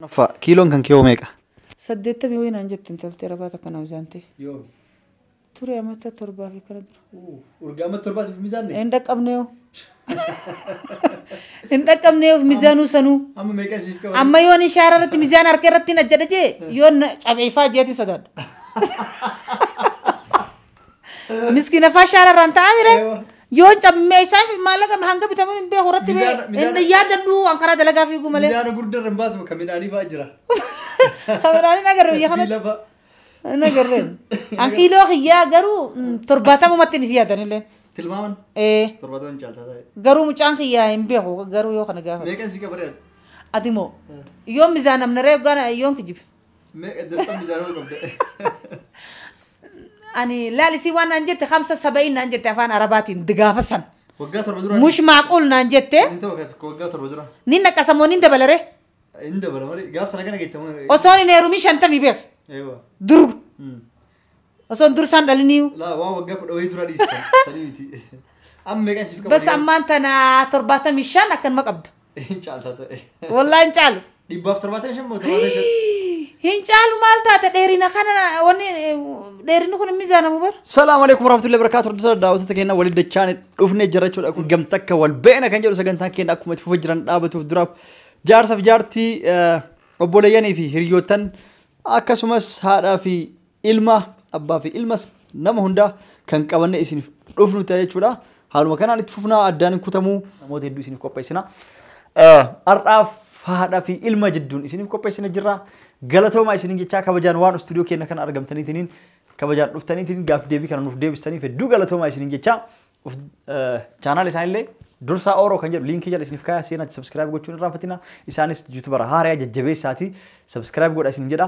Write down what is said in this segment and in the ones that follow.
Fa, kiiloon kan kee hoo meeqa? saddeettamii wayii naan jette intalti arabaa takka na mizaantee Yoomi. ture amata torbaa fi kana dura Urgaa amma torbaa siif mizaanne? hin dhaqqabneeyo hin dhaqqabneeyo mizaanuu sanuu Amma meeqa siif qaba? amma yoon ishaara irratti mizaan harka irratti hin ajjadha jee yoon na cabeefaa jeetiin sodaadha Miskiina fashaara irraan ta'a mire. Eewa. Yoo cammee isaaf maallaqa hanga bitamuun hin beeku irratti bee. Mizaana- mizaana- Inni yaadadhu waan karaa dalagaa fiigu malee. Mizaana gurguddaa irra hin baasu bakka midhaanii fa'aa jira. Kameraan hin agarre biyya kanatti. Sibiila fa'a. Hin agarre. An kiiloo kiyyaa garuu mm, torbaatamumatti hin yaadan illee. Tilmaaman Eh, torbaatama hin caaltaa ta'e. Garuu mucaan kiyyaa hin beeku garuu yoo kana gaafatu. Meeqan si qabaree? Ati moo? Yoon mizaan amnaree yoggaan yoon kijibe. Meeqa dirqamni ijaaramuu qabda? Ani laal isii waan naan jette kamsa saba'iin naan jette afaan arabaatiin digaafa san. Waggaa torba dura. Mush maaquul naan jette Hin ta'u waggaa tokko waggaa torba dura. ni naqasa moo ni dabalare Hin dabala malee gaaf sana kana geettamu. osoon hin heerumii shantamii beeku Eewa. dur Osoo hin dursaan dhaliniiyu. Laa waan waggaa kudha wayii dura dhiisa. Sanii miti. Amma meeqan siif qaba? Bas ammaan tana torbaatamii shan akkanuma qabda. Hin caaltaa ta'e. Wallaa hin caalu. Dhibbaaf torbaatamii shan moo torbaatamii shan? Hin caalu maal taate dheerina kana wanni dheerinni kun hin miizaanamu bar. Salaam alaikum warahmatullahi wabarakatuh. Hordoftoota daawwattoota keenya waliin dachaan dhufnee jirra jechuudha. Kun gamta akka wal beena kan jedhu sagantaan keenya akkuma itti fufaa jiran dhaabatuuf duraaf jaarsa fi jaartii eh, obboleeyyanii fi hiriyyootan akkasumas haadhaa fi ilma abbaa fi ilmas nama hundaa kan qabanne isiniif dhufnu ta'a jechuudha. Haaluma kanaan itti fufnaa addaan hin kutamuu namoota hedduu isiniif qopheessina. Har'aaf haadha fi ilma jidduun isiniif qopheessina jirra. Galatoomaa isiniin jechaa kabajaan waan istuudiyoo keenya kana argamtaniitiin kabajaan dhuftaniitiin gaaf deebii kana nuuf deebistaniif hedduu galatoomaa isiniin jechaa chaanaal isaanillee dursaa ooroo kan jedhu liinkii jala isiniif kaayaa seenaatti sabskiraayib gochuun irraanfatina isaanis yuutubara haaraya jajjabeessaati sabskiraayib godha isin jedha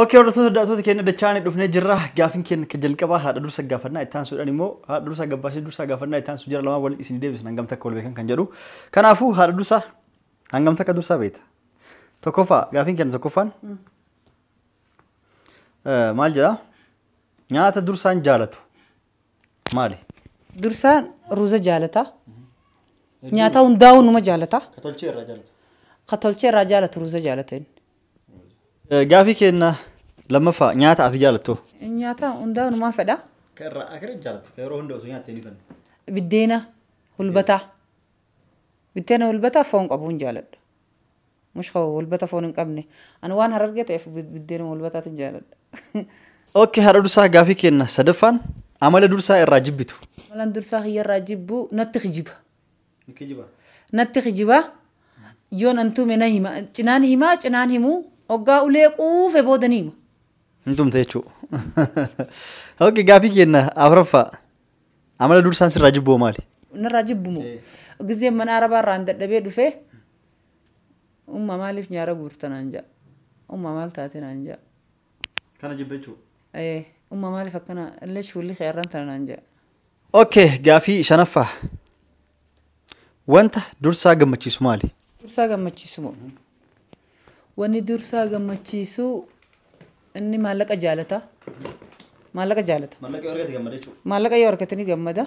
Ok hordoftoota daawwattoota keenya dachaanii dhufnee jirra. Gaafin keenya kan jalqabaa haadha dursa gaafannaa itti aansuudhaan immoo haadha dursa gabbaashee dursa gaafannaa itti aansu jira lamaan waliin isin deebisu hangam takka wal beekan kan jedhu. Kanaafuu haadha dursa hangam takka dursa beekta. Tokkoffaa gaafin keenya tokkoffaan maal jedha nyaata dursaan jaalatu maali? Dursaa ruuza jaalata. Nyaata hundaa'uu numa jaalata. Ka tolchee irraa jaalata. Ka tolchee irraa jaalatu ruuza jaalata inni. Eh, Gaafii keenna lammaffaa nyaata ati jaalattu. Nyaata hundaa'uu numaan fedha. Ka irraa akira jaalatu. Ka yeroo hunda osoo nyaattee ni fanna. Biddeena hulbataa. Biddeena hulbataa foon qabu hin jaaladha. Mush koo walbata foon hin qabne. Ani waan harargee ta'eef biddeenuma walbataatiin jaaladha. Ok haadha dursaa gaafii keenna sadaffaan amala dursaa irraa jibbitu. Amalan dursaa kiyyarraa jibbu natti kijiba. Natti kijiba yoo nan tume na hima cinaan himaa cinaan himu oggaa ulee quufe booda ni hima. Hin tumte jechuu. Ok gaafii keenna afraffaa. Amala dursaan sirraa jibboo maali? Narraa jibbumo. Gizee mana arabaa irraan dadhabee dhufee umma maaliif nyaara guurta naan ja'a. Umma maal taate naan ja'a. Kana jibba jechuudha. Ee, Umma maaliif akkana illee shuulli kee arran tana naan ja'a. Okay, gaafii shanaffaa. Wanta dursaa gammachiisu maali? Dursaa gammachiisu moo? Wanni dursaa gammachiisu inni maallaqa jaalata. Maallaqa jaalata. Maallaqa yoo argate gammada jechuudha. Maallaqa yoo argate ni gammada.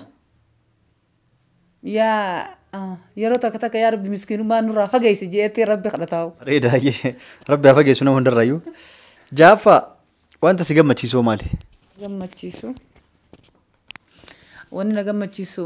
Yaa ah, yeroo takka takka yaa rabbi miskiinummaa nurraa fageessi jeetti rabbi kadhataa'u. Reeda hayyee rabbi haa fageessu nama hundarrayyuu. Jaaffaa wanta si gammachiisu hoo maali? Gammachiisu. Wanni na gammachiisu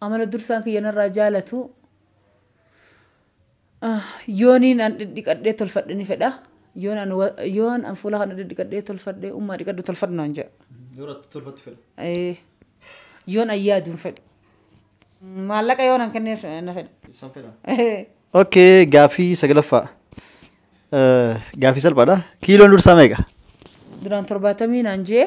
Amala dursaa kiyya narraa jaalatu yooniin an dhidhiqadhee tolfadhe ni fedha. Yoon an wa- yoon an fuula kana dhidhiqadhee tolfadhe ummaa dhiqadhu tolfadhu naan jedha. Yoo irratti tolfattu fedha. Ee, Yoon an yaadu hin fedhu. Maallaqa yoon an kenneef na fedha. San fedha. Ee. Okay, gaaffii saglaffaa. Eh, Gaaffii salphaadha. Kiiloon dursaa meeqa? Duraan torbaatamii naan jee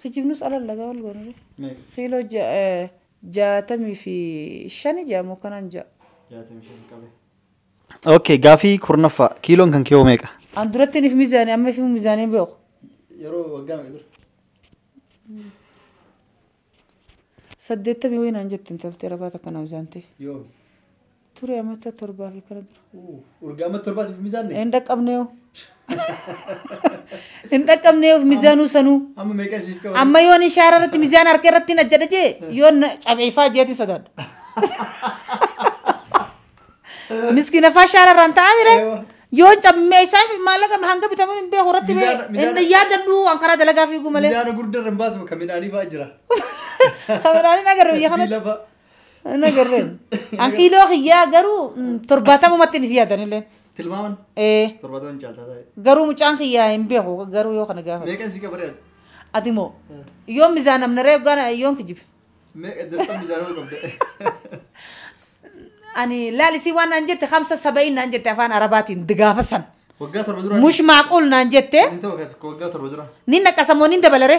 Kijibnus alal dhagaa wal goonure. Meeqa? Kiiloo ja- eh, jaatamii fi shani ja'a moo kanaan ja'a. Jaatamii shan qabe. Okay, gaafii kurnaffaa. Kiiloon kan kee hoo meeqa? An duratti niif mizaanii amma fi mizaanii beeku. Yeroo waggaa meeqa dura? Saddeettamii ho'i naan jette intaltee ragaa takka na mizaantee. Yoomi. Ture amata torbaa fi kana dura. Urgaa amma torbaa siif mizaanne. Hin dhaqqabnee hoo. Hin dhaqqabnee hoo mizaanuu sanuu. Amma meeqa siif qaba? Amma yoon ishaara irratti mizaan harka irratti hin ajjadha jee yoon na cabeefaa jeetiin sodaadha. Miskiina faa shaara irraan ta'aa mire. Eewa. Yoon cabbee isaaf maallaqa hanga bitaman hin beeku irratti bee Mizaana- mizaana- hin yaadadhu waan karaa dalagaa fiigu malee. Mizaana gurguddaa irra hin baatu kan midhaanii fa'aa jira. Sabadaan hin agarre biyya kanatti. Sibiila fa'a. Hin agarreen. An kiiloo kiyyaa garuu mm, torbaatamumatti ni yaadanillee. Tilmaaman Ee, torbaataman caaltaa taa'e. garuu mucaan kiyyaa hin beeku garuu yoo kana gaafatu. Meeqan si qabareera? Ati moo yoon mizaan namnaree yoggaan yoon kijibe. Meeqa dirqama mizaanuu qabda? Ani laalisii waan naan jette kamsa saba'iin naan jette afaan arabaatiin digaafasan. Waggaa torba dura. Mush maaquul naan jette Inni ta'u waggaa torba dura. ni naqasamoo ni dabalare.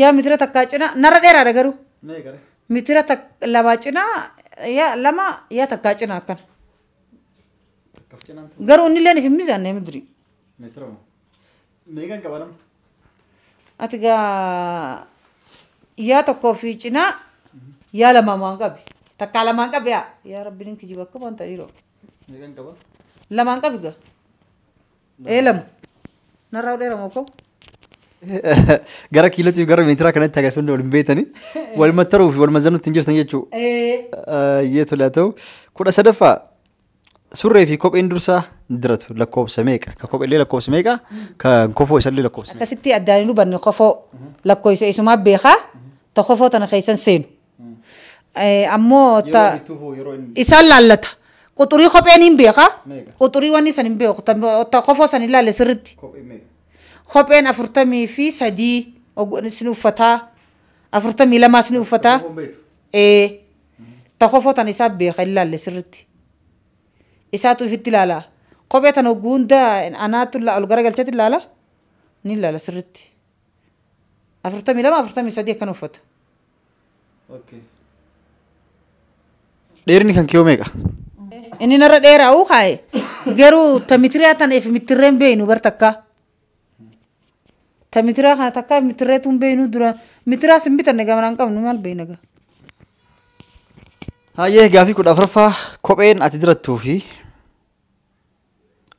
yaa mitira takkaa cina narra dheeraadha garuu Meeqa? mitira tak- lamaa cina yaa lama yaa takkaa cina akkana Akkaf cinaan ture. garuu inni illee hin mizaanne midri Meetira moo? Meeqan qaba nama? ati gaa yaa tokkoo fi cina yaa lamaa maan qabi takkaa lamaan qabi yaa yaa rabbiin hin kijiba akka waan ta'e dhiiroo Meeqan qaba? lamaan qabi gaa Ee lama. Narraa hodheera moo koo? Gara kiilootii fi gara meetiraa kanatti agarsiisu hundi wal hin beektani. Wal mattaruu fi wal mazzanuutti hin jirtan jechuudha. Ee. Yoo tole haa ta'u. Kudha sadaffaa surree fi kopheen dursaa diratu lakkoofsa meeqa? Ka kopheellee lakkoofsa meeqa? Kan kofoo isallee lakkoofsa meeqa? Akkasitti addaan hin hubanne kofoo lakkoofsa isumaa beekaa ta kofoo tana keessan seenu. Eh, ammoo ta- Yeroo bittuuf hoo yeroo inni isaan laallata quxurii kopheen hin beeka Meeqa? quxurii wanni san hin beeku tan- ta- kofoo san hin laalle sirritti kophee meeqa? kopheen afurtamii fi sadii og- isin uffataa afurtamii lamaa isin uffataa Kopheen beektu? ee ta kofoo tan isaa beeka hin laalle sirritti isaatu ifitti laala kophee tan hogguu hunda anaatu la- ol gara galchetti laala ni laala sirritti afurtamii lama afurtamii sadii akkan uffata. Okay. Dheerinni kan kiyoo meeqa? Inni narra dheeraa'uu kaa'e garuu tamitiriyaa tana if mittirreen beeynu bar takkaa. Tamitiriyaa kana takkaa if mittirreetu hin beeynu dura mitiriyaas hin bitanne gamanaan qabnu maal beeyna gaa. Hayyee gaafii kudha afuraffaa kopheen ati dirattuu fi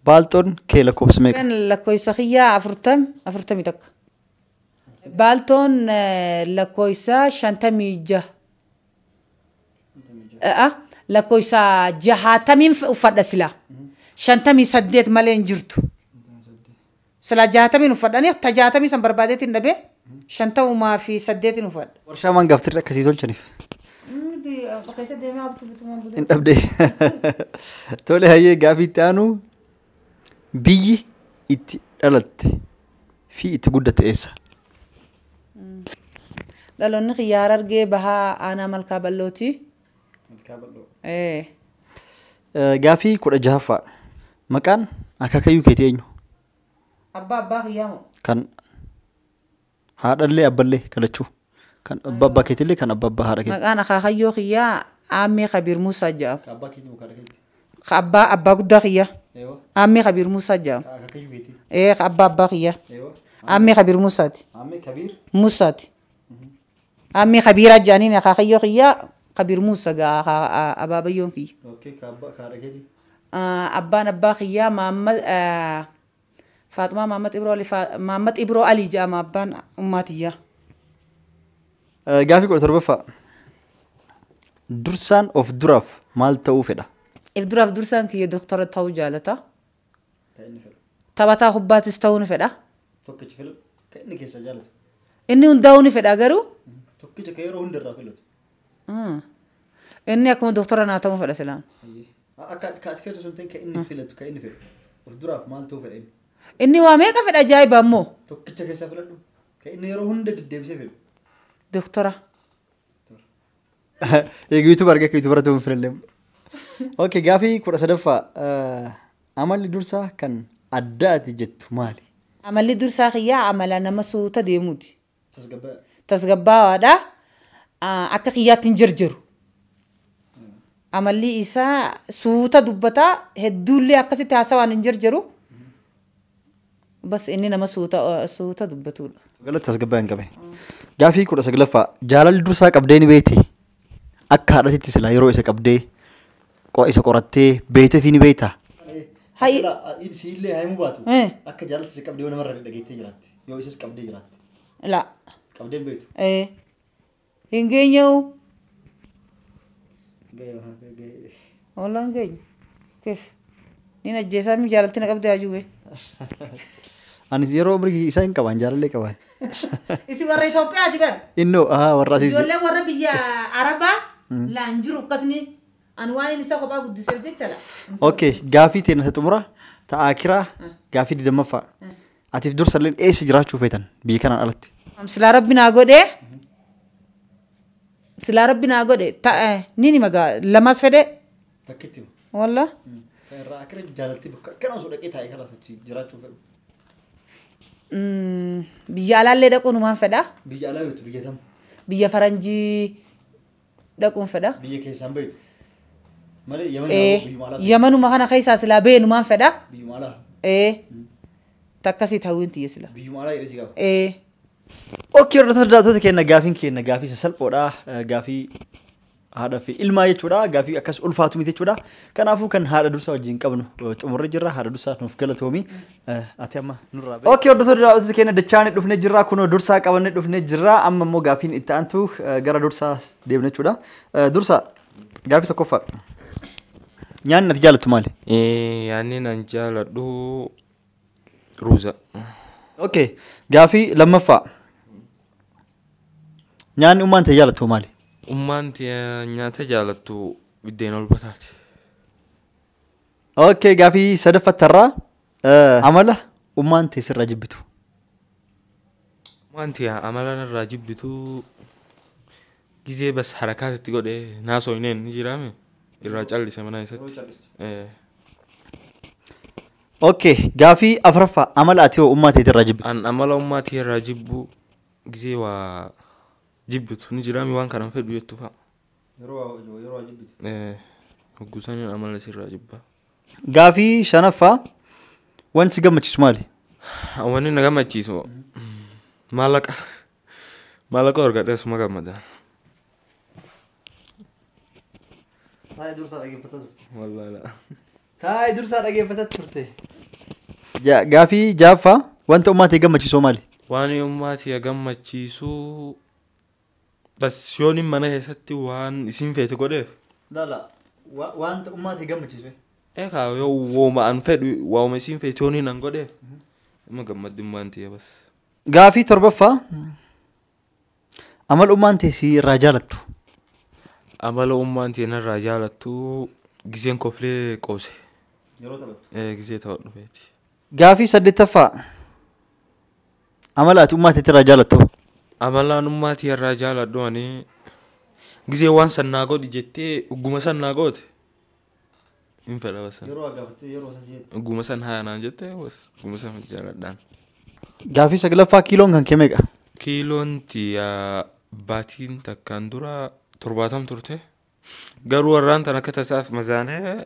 Baaltoon kee lakkoofsa meeqa? Kan lakkoofsa kiyyaa afurtam afurtamii takka. Baaltoon lakkoofsa shantamii jaha. A'a lakkoofsa jahaatamiin uffadha silaa. Shantamii saddeet malee hin jirtu. Silaa jaatamiin uffadhani ta jaatamii san barbaadeetiin dhabe shan ta'umaa fi saddeetiin uffadha. Warshaa maan gaaftirri akka sii tolchaniif. Nuti keessa deemee abtu bitumaan bulee. Hin dhabde. Tole hayyee gaafii itti aanu biyyi itti dhalatte fi itti guddatte eessa? Dhaloonni kiyya harargee bahaa aanaa malkaa bal'ooti. Ee. Gaaffii 16ffaa. Maqaan akaakayyuu keetii eenyu? Abbaa abbaa kiyyaa moo? Kan haadhallee abballee kan lachuu. Kan abbaa abbaa keetillee kan abbaa abbaa haadha keetii. Maqaan akaakayyoo kiyyaa Aammee Kabiir Muusaa jedhama. Kan abbaa keetii moo kan haadha keetii? Ka abbaa abbaa guddaa kiyyaa. Eewwa. Aammee Kabiir Muusaa jedhama. Kan akaakayyuu keetii. Ee ka abbaa abbaa kiyyaa. Eewwa. Aammee Kabiir Muusaati. Aammee Kabiir. Muusaati. Ammii kabiiraa jaaniin akaakayyoo kiyyaa kabir muussa gaa aka abaabayyoon kiyya. Okay ka abba ka haadha keetii. Abbaan abbaa kiyyaa maammad faaxumaa maammad ibroo ali maammad ibroo ali jedhama abbaan ummaa tiyyaa. Gaafii kudha torbaffaa. Dursaan of duraaf maal ta'uu fedha? If duraaf dursaan kiyya doktora ta'uu jaalata. Kan inni fedhu. Taphataa kubbaatis ta'uu ni fedha. Tokkicha filatu. Kan inni keessaa jaalatu. Inni hundaa'uu ni fedha garuu Mhm. Tokkicha kan yeroo hundarraa filatu. mm, inni akkuma doktora naa ta'uu fedha silaan. Hayyee. A- Akka ati- ka ati feetu sun ta'in kan inni filatu kan inni fedhu. Of duraaf maal ta'uu fedha inni? Inni waa meeqa fedha ajaa'iba ammoo Tokkicha keessaa filadhu. Kan inni yeroo hunda deddeebisee fedhu. doktora. Eegi yuutuuba argee akka yuutuubara ta'uun filallee. Ok gaafii kudha sadaffaa eh, amalli dursaa kan addaati jettu maali? Amalli dursaa kiyyaa amala nama suuta deemuuti. Tasgabbaawaadha. Ah, Akka kiyyaatti hin jarjaru. Amalli isaa suuta dubbata hedduullee akkasitti haasawaan hin jarjaru. Bas inni nama suuta suuta dubbatuudha. Galatti tasgabbaa'e hin qabe. Gaafii kudha saglaffaa jaalalli dursaa qabdee ni beekti. Akka haadhatitti silaa yeroo isa qabdee qo- isa qorattee beekteefii ni beekta. Hayi. Hayi. Siillee haimuu baatu Eh. akka jaalalatti si qabdee yoo namarra dhageettee jiraatte yoo isas qabdee jiraatte La. qabdee hin beektu. Eh. Hin geenye'u. Ollaan keenya. Kif. Niin ajjeesaa mi jaalatti na qabdee haajuu bee. Anis yeroo umrii isaa hin qabaan jaalallee qabaan. Isin warra Itoophiyaati bar. Innoo ahaa warra asiiti. Ijoollee warra biyya Arabaa laan jiru akkasni an waan inni isa kophaa guddiseef jecha la. Okay gaafii teena isa xumura ta'aa kiraa gaafii digdammaffaa. Atiif dursalleen eessa jiraachuu feetan biyya kanaan alatti? Silaa rabbi naa godhee silaa rabbi naa godhe ta- eh, nin hima gaa lamaas fedhe Takkitti walla irraa akka jaalalti bakka akkana osoo dhaqee taa'ee kanas achi jiraachuu fedhu. mm, biyya alaallee dhaquun humaan fedha Biyya alaa yookiin biyya tam? biyya faranjii dhaquun fedha. Biyya keessaan beektu. Malee Yaman Ee, haa biyyuma alaa yamanuma kana keessaa silaa beenumaan fedha. beektu. Biyyuma alaa. Ee, takkasii ta'uun tiyya silaa. Biyyuma alaa jedhee si gaafa. Ee. Okkee hordoftoota daawwattoota keenya gaafiin keenya gaafii sasalphoodha. Eh, Gaafii haadha fi ilmaa jechuudha. Gaafii akkas ulfaatu miti jechuudha. Kanaafuu kan haadha dursaa wajjin qabnu eh, xumurree jirra. Haadha dursaa nuuf galatoomi. Ati amma nurraa beektu. Ookii hordoftoota daawwattoota keenya dachaan dhufnee jirra kunoo dursaa qabannee dhufnee jirra amma immoo gaafiin itti aantu eh, gara dursaa deemna jechuudha. Eh, Dursaa gaafii tokkoffaa nyaanni ati jaallattu maali? Eh, yaanni nan jaaladhu ruuza. Ookee gaafii lammaffaa nyaanni ummaan ta'e jaallattu maali? Ummaan tiyya nyaata jaalattu biddeen ol bataati. Okay, gaafii sadaffattarraa Eh, amala ummaan tee sirraa jibbitu. Wanti yaa amalaan irraa jibbitu gizee bas harakaas itti godhe naasoo hin eenyu jiraame irraa callise manaa isatti. Eh, Okay, gaafii afraffaa amala ati hoo ummaa teetirraa jibbitu. An amala ummaa tee irraa jibbu gizee waa jibbitu ni jiraame waan kanan fedhu jettu fa'a. Hogguu saniin amala sirraa jibba. Gaafii shanaffaa wanti si gammachiisu maali? Wanni na gammachiisu maallaqa maallaqa argadhee suma gammada. Taa'ee dursaa dhaggeeffataa turte. Wallaahi. Taa'ee dursaa dhaggeeffataa turte. Gaafii jaaffaa wanta ummaa ta'e gammachiisu maali? Waan ummaa ta'e gammachiisu Bas yoonin mana keessatti waan isiin feete godheef. Lala waan ummaa tee gammachiisu ee. Ee kaa yoo wauma an fedhu wauma isiin feete yoonin an godheef ima gammaddi ummaan tiyya bas. Gaafii 7ffaa Amala ummaan tee sii irraa jaalattu. Amala ummaan tiyya narraa jaalattu giseen koflee qoose. Yeroo taphattu. Ee gisee taphadhu feeti. Gaafii 8ffaa. Amala ati ummaa teetirraa jaalattu. Amalaan ummaa tiyarraa jaaladhu ani gisee waan san naa godhi jettee ugguma san naa goote hin fedha basan. Yeroo agabattee yeroo sasii jettee. Ugguma san haa naan jettee bas ugguma san jaaladhaan. Gaafii saglaffaa kiiloon kan kee meeqa? Kiiloon tiya baatiin takkaan dura torbaatam turte garuu warraan tan akka tasaaf mazaanee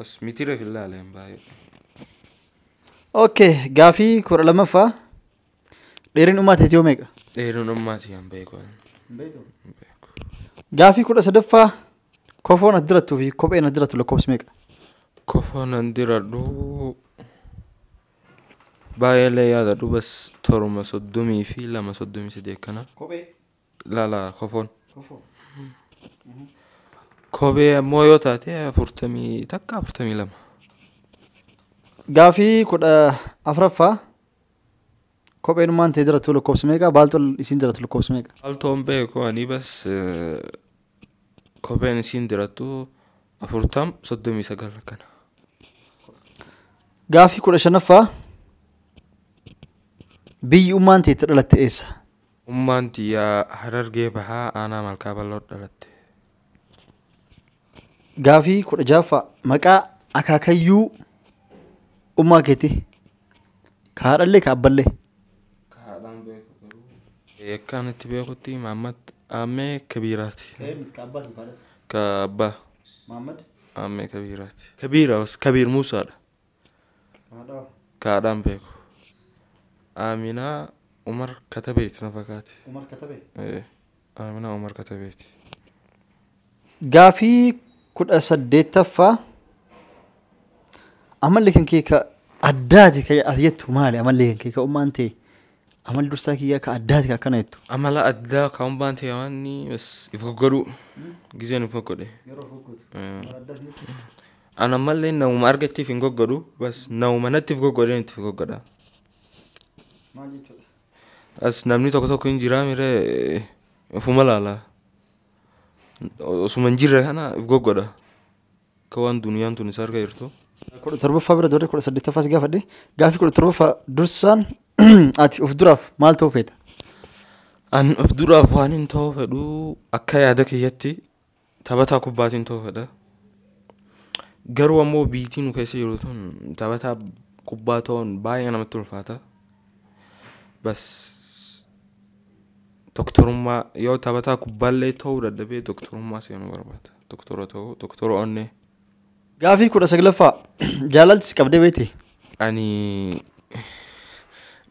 As mitira hin laaleen baay'ee. Okay, gaafii kudha lammaffaa dheerin dhumaa teetii yoo meeqa? Dheerin dhumaa si hin beeku. Gaafii kudha sadaffaa kofoon as dirattuu fi kopheen as dirattu lakkoofsi meeqa? Kofoon an diradhu baay'eellee yaadadhu bas toruma soddomii fi lama soddomii sadii akkana. Kophee. ilaala kofoon. Kophee ammoo yoo taate afurtamii takka afurtamii lama. Gaafii kudha afraffaa kopheenummaan tee jiratu lakkoofsa meeqa baaltoon isiin jiratu lakkoofsa meeqa Baaltoon beeku ani bas eh, kopheen isiin dirattu afurtam soddomii sagal akkana. gaafii kudha shanaffaa biyyi ummaan tee itti dhalatte eessa Ummaan tiyya Harargee Bahaa Aanaa Malkaa Bal'ootti dhalatte. Gaafii 16ffaa Maqaa akaakayyuu ummaa keetii? Ka haadhallee ka abballee? Ka haadhaa hin beeku garuu. Akkaan itti beekutti Maammad Aammee Kabiiraati. Ka abbaa? Aammee Kabiiraati. Kabiir Aws Kabiir Muusaadha. kaadhaan beeku aaminaa umar katabeeti na fakaate Umar Katabee. Eh, aaminaa umar katabeeti Gaafii kudha saddeettaffaa amalli kan kee ka addaati ka ati jettu maali amalli kan kee ka ummaan ta'e amalli dursaa kiyyaa ka addaati ka akkana jettu amala addaa kan umbaan ta'e waanni bas if goggodhuu gizeen if goggodhe Yeroo fokkuutu. Eh. Addaas jechuudha. An ammallee namuma argettiif hin goggodhu bas namuma nattif goggodheen ittif goggodha. Maal jechuudha? As namni tokko tokko hin jiraa mire ofuma laala. Osuma hin jirre kana if goggodha. Akka waan duniyaan tun isa harka jirtu. kudha torbaffaa bira dabarree kudha saddeettaffaa si gaafadhe gaafii kudha torbaffaa dursaan ati of duraaf maal ta'uu feeta? An of duraaf waan hin ta'uu fedhu akka yaada kiyyatti Taphataa kubbaatiin toofadha. Garuu ammoo biitii nu keessa jiru tun taphataa kubbaa ta'uun baay'ee namatti ulfaata. Bas doktorummaa yoo taphataa kubbaallee ta'uu dadhabee doktorummaa seenuu barbaada. Doktora ta'uu doktora onnee. Gaafii kudha saglaffaa jaalalti si qabdee beekti? Ani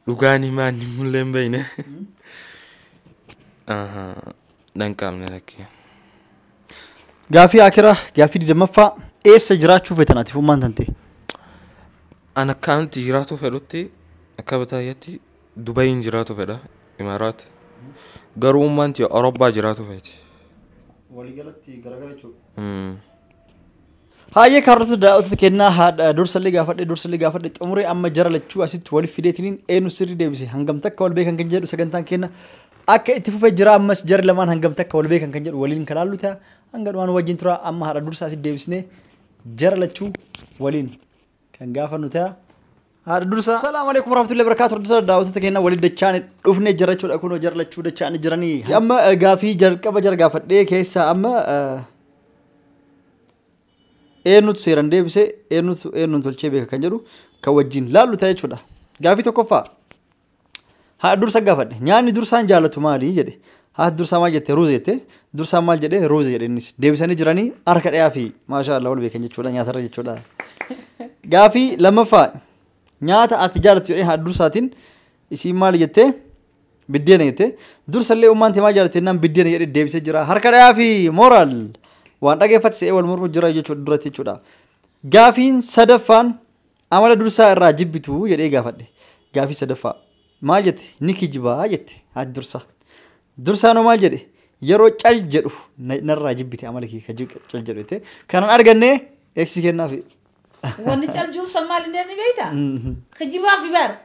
dhugaan himaa inni mullee hin beekne. Nan qaamne lakkee. Gaafii akiraa gaafii digdammaffaa eessa jiraachuu feetan ati fummaan tante? An akka an itti jiraatu fedhutti akka bataayyatti Dubayiin jiraatu fedha Imaaraat. Garuu ummaan tiyya Awurooppaa jiraatu feeti. Waliigalatti garagara jechuudha. Mm. Haayee kaarrota daawwattoota kennaa haadha dursallee gaafadhe dursallee gaafadhe xumuree amma jara lachuu asitti waliif fideetiniin eenu sirrii deebise hangam takka wal beekan kan jedhu sagantaan kenna akka itti fufee jira ammas jara lamaan hangam takka wal beekan kan jedhu waliin kan haallu ta'a hanga dhumaan wajjin tura amma haadha dursa asitti deebisnee jara lachuu waliin kan gaafannu ta'a. Haadha dursa. Salaamu alaikum warahmatullahi wabarakatuh. Dursa daawwattoota keenya waliin dachaan dhufne jira jechuudha kunoo jara lachuu dachaan jiranii. Amma eh, gaafii jalqaba jara gaafadhee keessaa amma eh, eenyutu seeran deebise eenyutu eenyuun tolchee beeka kan jedhu kan wajjin laallu ta'a jechuudha. Gaafii tokkoffaa. Haadha dursa gaafadhe. Nyaanni dursaan jaallatu maali jedhe. Haati dursaa maal jette ruuza jette. Dursaan maal jedhe ruuza jedhe innis. Deebisanii jiranii harka dhiyaa fi maashaa Allah wal beekan jechuudha nyaatarra jechuudha. Gaafii lammaffaa nyaata ati jaallatu jedheen haadha dursaatiin isiin maal jette biddeena jette. Dursallee ummaan tee maal jaallatte jennaan biddeena jedhe deebisee jira. Harka dhiyaa fi mooraal waan dhageeffate se'ee wal mormu jira jechuudha duratti jechuudha. Gaafiin sadaffaan Amala dursaa irraa jibbituu? jedhee gaafadhe. Gaafii sadaffaa. Maal jette? Ni kijibaa jette haati dursaa. Dursaan hoo maal jedhe? Yeroo cal jedhu na- narraa jibbite amala kee ka jib- cal jedhu jette. Kanan arganne eeksi kennaafi. Wanni cal juubsan maal inni jedhanii beektaa? Kijibaa fi bar.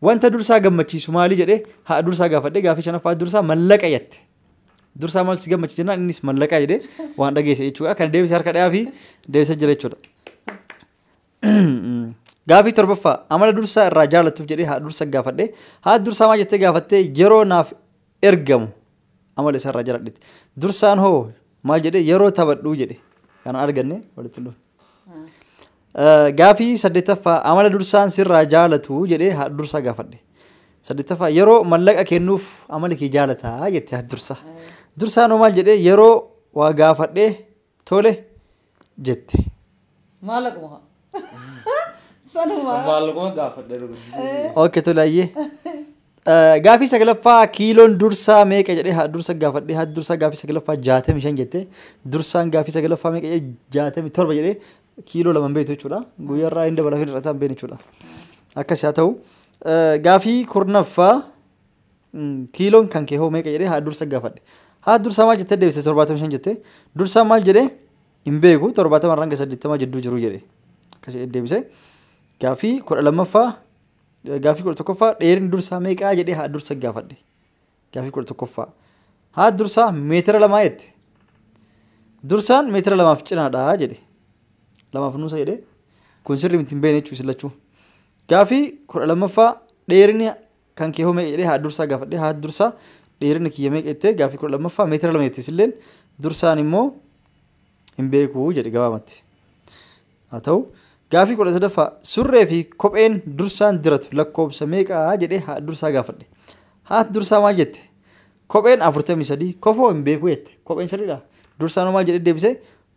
Wanta dursaa gammachiisu maali jedhee haadha dursaa gaafadhe gaafii shanaffaa haati dursaa mallaqa jette. Dursaa maaltu si gammachiisa jennaan innis mallaqa jedhee waan dhageesse jechuudha. Kan deebise harka dhayaa fi deebisee jira jechuudha. Gaafii torbaffaa amala dursaa irraa jaallattuuf jedhee haadha dursaa gaafadhe haati dursaa maal jettee gaafattee yeroo naaf ergamu amala isarraa jaladhiti dursaan hoo maal jedhe yeroo taphadhuu jedhe kana arganne walitti dhufe. Gaafii saddeettaffaa amala dursaan sirraa jaalatu jedhee haa dursaa gaafadhe. Saddeettaffaa yeroo mallaqa kennuuf amala kee jaalataa jette haa dursaa. Dursaan hoo maal jedhee yeroo waa gaafadhee Tole jette. Maallaquma. Sanuma. Maallaquma gaafadhe dhuguddisee. Ok tole ayyee. Eh, Gaafii saglaffaa kiiloon dursaa meeqa jedhee haa dursa gaafadhee haa dursaa gaafii saglaffaa jaatamii shan jettee dursaan gaafii saglaffaa meeqa jedhee jaatamii torba jedhee kiiloo lama hin beektu jechuudha. Guyyaarraa hin dabalaa fi hir'ataa hin beekne jechuudha. Akkas haa ta'u. Eh, Gaafii kurnaffaa Kiiloon kan kee hoo meeqa jedhee haa dursa gaafadhe. Haa dursaa maal jettee deebiste torbaatamii shan jettee dursaa maal jedhee hin beeku torbaatama irraa hanga saddeettamaa jidduu jiru jedhe. Akkas jedhee deebise. Gaaffii kudha lammaffaa gaaffii kudha tokkoffaa dheerinni dursaa meeqaa jedhee haa dursa gaafadhe. Gaaffii kudha tokkoffaa. Haa dursaa meetira lamaa jette. Dursaan meetira lamaaf cinaadhaa jedhe. Lamaaf nuusa jedhe. Kun sirrii miti hin beekne jechuun isin lachuu. Gaaffii kudha lammaffaa dheerinni Kan kee hoo meeqa jedhee haadha dursaa gaafadhe. Haati dursaa dheerina kiyya meeqa jettee gaaffii kudha lammaffaa meetira lama jetti isilleen dursaan immoo hin beeku jedhe gabaabatti. Haa ta'u gaaffii kudha sadaffaa surree fi kopheen dursaan diratu lakkoobsa meeqa jedhee haadha dursaa gaafadhe. Haati dursaa maal jette? Kopheen afurtamii sadii kofoo hin beeku jette. Kopheen sirriidha. Dursaan hoo maal jedhee deebisee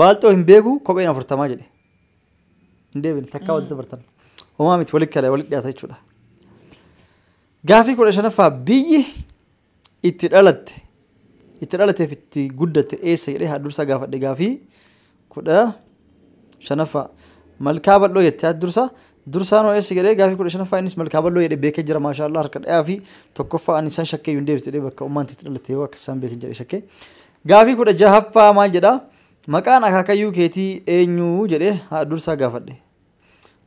Baalxoo hin beeku kopheen afurtamaa jedhe. Hin deebine takkaa walitti bartan. Homaa miti walitti kala walitti dhiyaata jechuudha. Gaafii kudha shanaffaa biyyi itti dhalatte itti dhalateef itti guddatte eessa jedhee haddursaa gaafadhe gaafii kudha shanaffaa malkaa bal'oo jette haddursaa dursaan hoo eessa jedhee gaafii kudha shanaffaa innis malkaa bal'oo jedhe beekee jira maashaallah harka dhayaa fi tokkoffaa ani isaan shakkee hin deebiste jedhee bakka ummaan itti dhalatte yoo akka isaan beekan jedhe shakkee Gaafii 16ffaa maal jedha? Maqaan akaakayyuu keetii eenyu? jedhee haadha dursaa gaafadhe.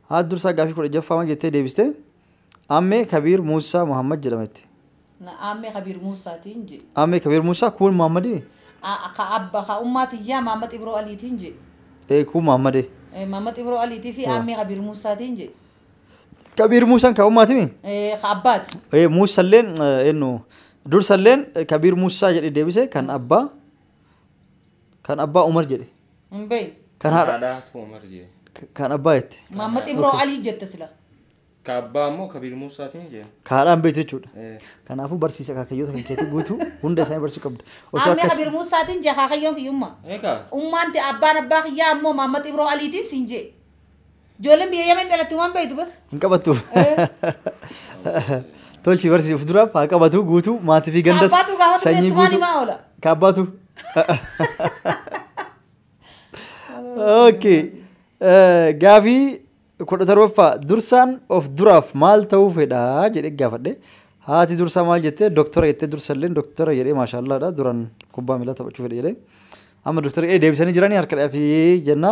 Haati dursaa gaafii 16ffaa maal jettee deebiste? Ammee Kabiir Muussaa Muhammad jedhama jette. Na aammee Kabiir Muussaatiin je. Ammee Kabiir Muussaa kuun Muhammadii? A- Ka abba ka ummaa tiyyaa Maammat Ibroo Aliitiin je. Ee kuun Muhammadee. Eh, Maammat Ibroo Aliitii fi Yoo. aammee Kabiir Muussaatiin je. kabiir muusan ka ummaatimi Eh, ka abbaati Eh, muusalleen eh, ennu dursalleen eh, kabiir muusaa jedhe deebise kan abbaa kan abbaa umar jedhe hin beeyi kan haadha Haadhaa Tuumar jee. kan abbaa jette maammad ibroo alii jette sila Ka abbaa ammoo Kabiir Muusaatiin jee. ka haadhaan beektu jechuudha Eh, kanaafuu barsiisa akaakayyoota kan keetii guutuu hunda isaanii barsiisuu qabda osoo ammee akkas kabiir muusaatiin jee kaakayyoon kiyyummaa Eegaa. ummaanti abbaan abbaa kiyyaa ammoo maammad ibroo aliitiin siin jee Ijoolleen biyya Yemen dhalattu waan beektu bata. Hin qabattu. Tolchi barsiisi of duraaf haa qabatu guutuu maatii fi gandas Kaabbaatu gaafatu sanyii beektu maal guutuu. himaa oola? Kaabbaatu. Okay. Eh, Gaafii kudha torbaffaa dursaan of duraaf maal ta'uu fedha jedhee gaafadhe. Haati dursaa maal jettee doktora jettee dursa illee doktora jedhee maashaallaadha duraan kubbaa miilaa taphachuu fedhe jedhee. Amma doktora jedhee deebisanii jiranii harka dhafii jenna.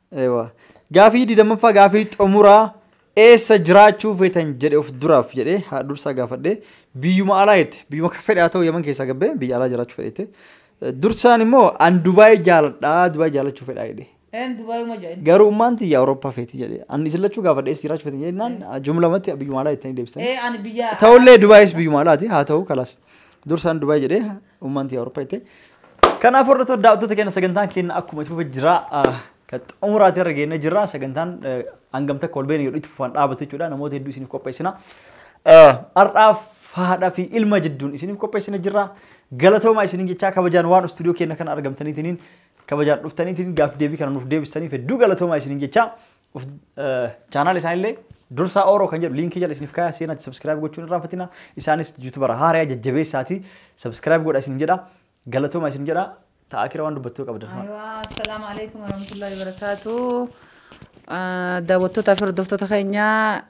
Ewa. Gaafii digdamaffaa gaafii xumuraa eessa jiraachuu feetan jedhe of duraaf jedhe haa dursaa gaafadhe biyyuma alaa jette biyyuma kan fedhe haa ta'u yaman keessaa gabbee biyya alaa jiraachuu fedhe jette. Dursaan immoo an Dubaay jaaladhaa Dubaay jaalachuu fedhaa jedhe. Een Dubaayuma jedhan. Garuu ummaan tiyya Awurooppaa feeti jedhe. An isin lachuu gaafadhe eessa jiraachuu feetan jennaan jumlamatti biyyuma alaa jettanii deebistan. Ee ani biyya. Ta'ullee Dubaayis biyyuma alaati haa ta'u kalaas. Dursaan Dubaay jedhe Uummanti Awurooppaa jettee. Kanaaf hordoftoota daawwattoota keenya sagantaan keenya akkuma itti fufa jira. Kan xumuraati irra geennee jirra. Sagantaan hangam takka ol beekne itti fufaan dhaabatu jechuudha. Namoota hedduu isiniif qopheessina. Har'aaf haadhaa fi ilma jidduun isiniif qopheessina jirra. Galatoomaa isiniin jechaa kabajaan waan istuudiyoo keenya kana argamtaniitiin kabajaan dhuftaniitiin gaaf deebii kana nuuf deebistaniif hedduu galatoomaa isiniin jechaa Chaanaal isaanillee dursaa ooroo kan jedhu liinkii jala isiniif kaayaa seenaatti sabskiraayib gochuun irraa fatina isaanis yuutubara haaraya jajjabeessaati sabskiraayib godha isin jedha galatooma isin jedha ta'a kira waan dubbattuu qabdan. Aywa, assalaamu alaikum warahmatullahi wabarakatuh. Ah, Daawwattootaa fi hordoftoota keenyaa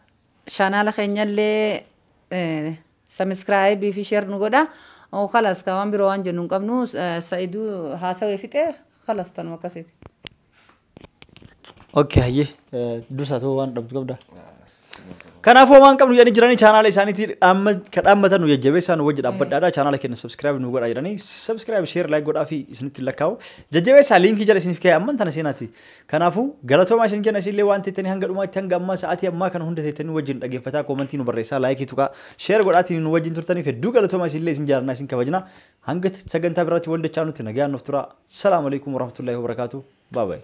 chaanaala keenyallee eh, sabiskiraayibii fi sheer nu godha. Oh, Kalas ka waan biroo waan jennu hin qabnu. Eh, Sa'iduu haasawee fixee kalas tanuma akkasiiti. Okay hayyee eh, dursaa ta'uu waan dhabdu qabda. Kanaafuu homaa hin qabnu jedhanii jiranii chaanaala isaaniitii dhaamma- ka dhaammatan nu jajjabeessaa nu wajji dhaabbadhaadha chaanaala keenya subscribe nu godhaa jedhanii subscribe share like godhaa fi isinitti lakkaa'u jajjabeessaa liinkii jala isiniif ka'e amman tana seenaati. Kanaafuu galatoomaa isin kenna isinillee waan teettanii hanga dhumaatti hanga ammaa sa'aatii ammaa kana hunda teettanii wajjin dhaggeeffataa koomantii nu barreessaa laayikii tuqaa share godhaatiin nu wajjin turtaniif hedduu galatoomaa isinillee isin jaalannaa isin kabajna hanga sagantaa biraatti wal dachaa nutti nagaan nuuf turaa salaamu alaikum warahmatullaahi wabarakaatu baabaayi.